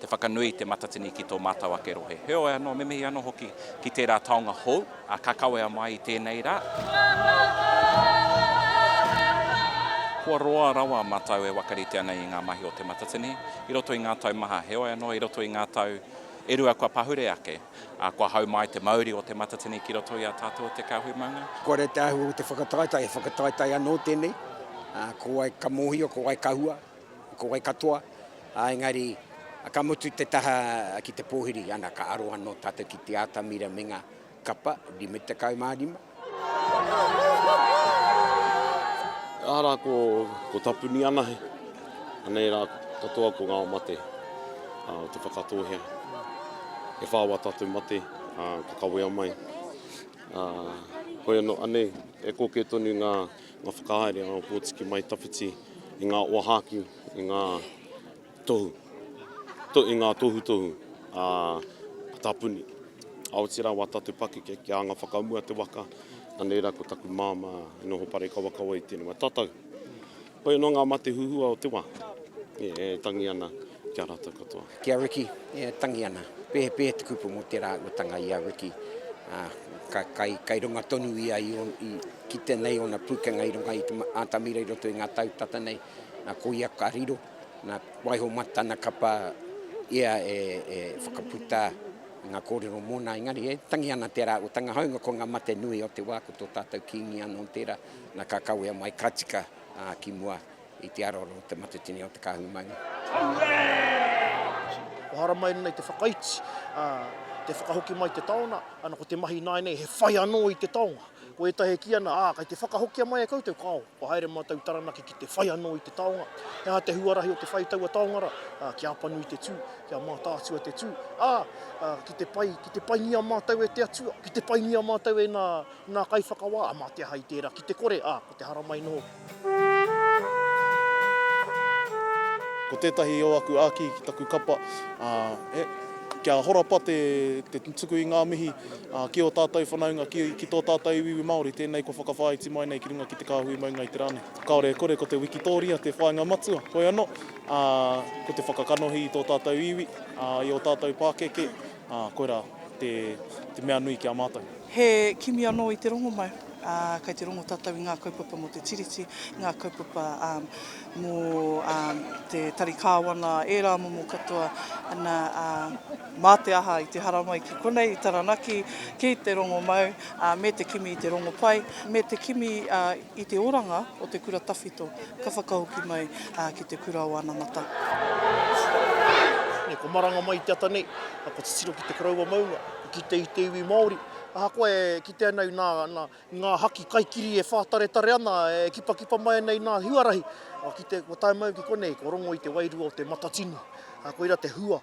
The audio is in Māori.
Te whakanui i Te Matatini ki tō mātou ake rohe. Heoi anō, me mihi anō hoki ki tērā taonga hou, ā, ka kawea mai i tēnei rā. Kua roa rawa mātou e wakarite ana i ngā mahi o Te Matatini i roto i ngā tau maha. Heoi anō, i roto i ngā tau e rua kua pahure ake, ā, kua hau mai te mauri o Te Matatini ki roto i a tātou o Te Kāhui Maunga. Kua rite ahau o te whakataetae, he whakataetae anō tēnei, ā, ko wai ka mōhio, ko wai ka hua. Ko wai katoa, ā, engari ka mutu te taha ki te pōhiri, ana ka aro anō tātou ki te atamira me ngā kapa, 55. Aha rā ko tapuni anahe, anei rā katoa ko ngā mate o Te Whakatōhea. E whā wā tātou mate, ā, ka kawea mai, ā, hoi anō, anei e kōkē tonu ngā. ngā whakahaere a Ōpōtiki Mai Tawhiti i ngā wāhaki, i ngā tohu, i ngā tohutohu a Tā Puni. Aoti rā, wā tātou pakeke ki ānga whakamua te waka, anei rā ko taku māmā e noho parekawakawa i tēnei wā. Tatau, koia nō ngā mate huhua o te wā e tangi ana. Kia rata katoa. Ki a Ricky, e tangi ana. Pēhepēhe te kupu mō tērā uatanga i a Ricky, ā, ka, kai, kai runga tonu ia i on, i, ki tēnei ōna pūkenga i runga i te atamira i roto i ngā tau tata nei, nā, ko ia ka riro, nā, waiho mā tana kapa ia e, e whakaputa ngā kōrero mōna, engari e tangi ana tērā uatanga, hāunga ko ngā mate nui o te wā, ko tō tātou Kīngi anō tērā, nā, ka kawea mai, ka tika, ā, ki mua, I te aro anō te matatini o te kāhui maunga. Kua haramai nei te whakaiti, te whakahoki mai te taona, ana ko te mahi ināianei he whai anō i te taonga. Ko ētahi e kī ana, ā, kei te whakahokia mai e koutou, kāo, kua haere mātou i Taranaki ki te whai anō i te taonga. He aha te huarahi o te whai i taua taonga rā? Kia apanui te tū, kia mātaatua te tū, ā, ki te pai, ki te paingia mātou e te Atua, ki te paingia mātou e ngā, ngā kaiwhakawā, mā te aha i tērā, ki te kore, ā, Ko te haramai noho. Ko tētahi o aku āki ki taku kapa, kia horapa te tuku i ngā mihi ki ō tātou whanaunga, ki tō tātou iwiiwi Māori, tēnei kua whakawhāiti mai nei ki runga ki te kāhui maunga i te rā nei. Kāore e kore, ko te wikitōria te whāinga matua, hoi anō, ko te whakakanohi i tō tātou iwi, i ō tātou pākeke, Ā, koirā te, te mea nui ki a mātou. He kimi anō i te rongomau, ā, kei te rongo tātou i ngā kaupapa mō te Tiriti, ngā kaupapa, ā, mō, ā, te tari kāwana, ērā momo katoa, ana, ā, mā te aha i te haramai ki konei, i Taranaki, ki te rongomau, ā, me te kimi i te rongopai, me te kimi, ā. I te oranga o te kura tawhito ka whakahoki mai ki te kura o anamata. Nei ko maranga mai te ata nei, a ko titiro ki te koroua maunga, i kite i te iwi Maori, ahakoa e kite ana i na, na, i nga haki kaikiri e whataretare ana, e kipakipa mai ana i na huarahi, kua kite, kua tae mai ki konei, kua rongo i te wairua o te Matatini, koira te hua.